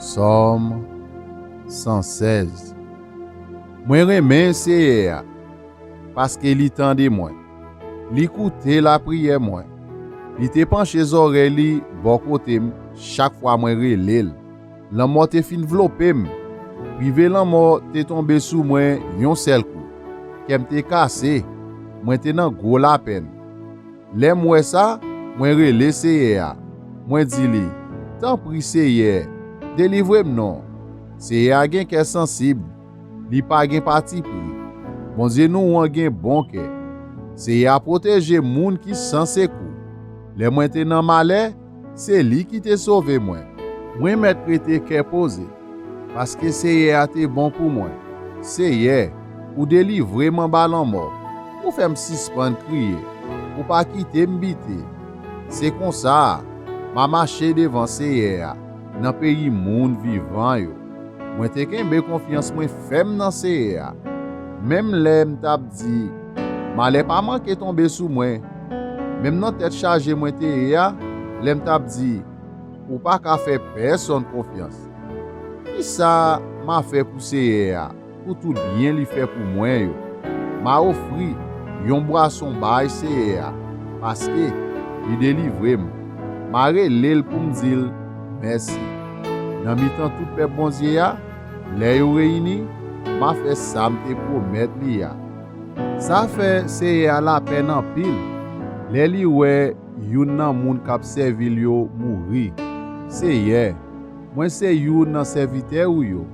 Sòm 116 Mwen renmen Seyè a, paske li tande mwen, li koute lapriyè mwen. Li te panche zòrèy li bò kote m chak fwa mwen rele l. Lanmò te fin vlope m, rive lanmò te tonbe sou mwen yon sèl kou. Kè m te kase, mwen te nan gwo lapenn. Lè m wè sa, mwen rele Seyè a, mwen di li, Tanpri Seyè, delivre m non! Seyè a gen kè sansib, li pa gen patipri. Bondye nou an gen bon kè. Seyè a pwoteje moun ki san sekou. Lè mwen te nan malè, Se li ki te sove mwen. Mwen mèt rete kè poze. Paske Seyè a te bon pou mwen. Seyè, ou delivre m anba lanmò. Ou fè m sispann kriye. Ou pa kite m bite. Se konsa, m a mache devan Seyè a nan peyi moun vivan yo. Mwen te kenbe konfyans mwen fèm nan Seyè a. Menm lè m t ap di, Malè pa manke tonbe sou mwen. Menm nan tèt chaje mwen te ye a, lè m t ap di, Ou pa ka fè pèsonn konfyans. Ki sa m a fè pou Seyè a pou tout byen li fè pou mwen yo? M a ofri yon bwason bay Seyè a paske li delivre m. M a rele l pou m di l mèsi. Nan mitan tout pèp Bondye a, lè yo reyini, m a fè sa m te pwomèt li a. Sa fè Seyè a lapèn anpil lè li wè youn nan moun k ap sèvi l yo mouri. Seyè, mwen se youn nan sèvitè ou yo,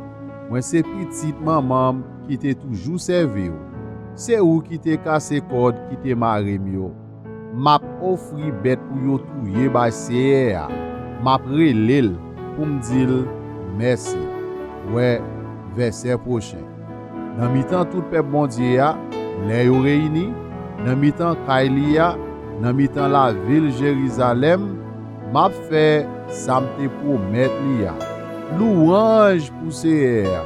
mwen se pitit manman m ki te toujou sèvi w. Se ou ki te kase kòd ki te mare m yo. M ap ofri bèt pou yo touye bay Seyè a, m ap rele l pou m di l mèsi. Wè vèsè pwochen. Nan mitan tout pèp Bondye a, lè yo reyini, nan mitan kay li a, nan mitan lavil Jerizalèm, m ap fè sa m te pwomèt li a. Louwanj pou Seyè a!